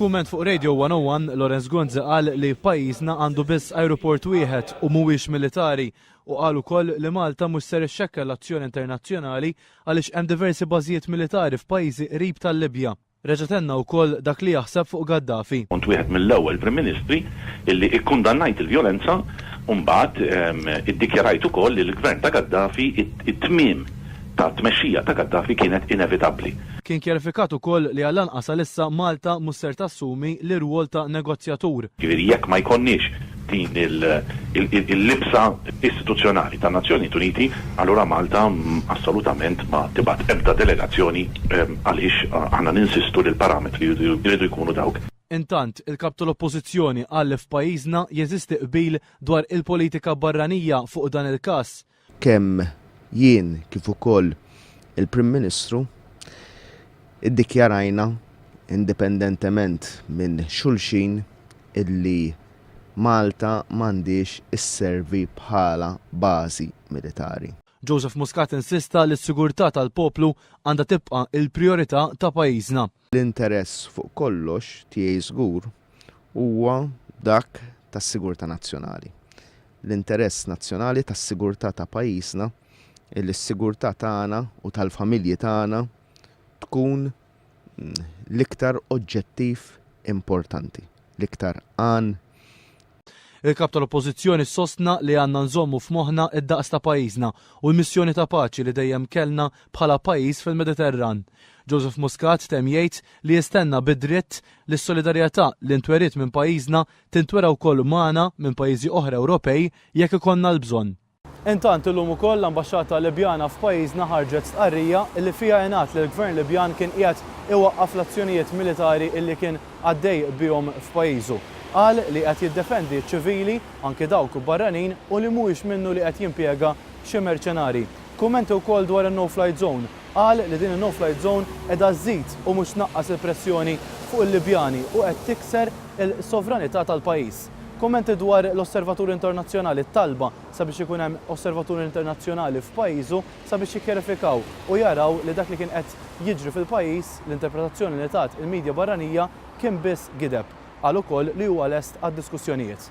F'kumment fuq Radio 101, Lawrence Gonzi qal li pajjiżna għandu biss ajruport wieħed u mhuwiex militari u qal ukoll li Malta mhux ser ixxekkel l-azzjoni internazzjonali għaliex hemm diversi bażijiet militari f'pajjiżi qrib tal-Libja. Reġa' tenna wkoll dak li jaħseb fuq Gaddafi. Kont wieħed mill-ewwel Prim Ministri li kkundannajt il-vjolenza u mbagħad iddikjarajt ukoll li l-Gvern ta' Gaddafi t-tmiem ta' tmexxija ta' Gaddafi kienet inevitabbli. Kien kjarifikat ukoll li għall-anqas għalissa Malta mhux ser tassumi l-irwol ta' negozjatur. Jiġifieri jekk ma jkollniex din il-libsa istituzzjonali tan-Nazzjonijiet Uniti, allura Malta assolutament ma tibgħat ebda delegazzjoni għaliex aħna ninsistu li l-parametri jridu jkunu dawk. Intant, il-Kap tal-Oppożizzjoni qal li f'pajjiżna jeżisti qbil dwar il-politika barranija fuq dan il-każ. Kemm jien kif ukoll il-Prim Ministru ddikjarajna indipendentement minn xulxin illi Malta m'għandhiex isservi bħala bażi militari. Joseph Muscat insista li s-sigurtà tal-poplu għandha tibqa' l-prijorità ta' pajjiżna. L-interess fuq kollox tiegħi żgur huwa dak tas-sigurtà nazzjonali. L-interess nazzjonali tas-sigurtà ta' pajjiżna li s-sigurtà tagħna u tal-familji tagħna tkun l-iktar oġġettiv importanti, l-iktar għan Il-Kap tal-Oppożizzjoni sostna li għandna nżommu f'moħħna d-daqs ta' pajjiżna u l-missjoni ta' paċi li dejjem kellna bħala pajjiż fil-Mediterran. Joseph Muscat temm jgħid li jistenna bid-dritt li s-solidarjetà li ntweriet minn pajjiżna tintwera wkoll magħna minn pajjiżi oħra Ewropej jekk ikollna l-bżonn. Intant, illum ukoll l-Ambaxxata Libjana f'pajjiżna ħarġet stqarrija li fiha ingħad li l-Gvern Libjan kien qiegħed iwaqqaf l-azzjonijiet militari li kien għaddej bihom f'pajjiżu. Qal li qed jiddefendi ċ-ċivili, anki dawk barranin, u li mhuwiex minnu li qed jimpjega xi merċenarji. Kummenti wkoll dwar in-No Flight Zone. Qal li din in-No Flight Zone qiegħda żżid u mhux tnaqqas il-pressjoni fuq il-Libjani u qed tikser il-sovranità tal-pajjiż. Kummenti dwar l-Osservatur Internazzjonali t-talba sabiex ikun hemm Osservatur Internazzjonali f'pajjiżu sabiex jikkjarifikaw u jaraw li dak li kien qed jiġri fil-pajjiż, l-interpretazzjoni li tat il-midja barranija kien biss gideb. Qal ukoll li huwa lest għad-diskussjonijiet.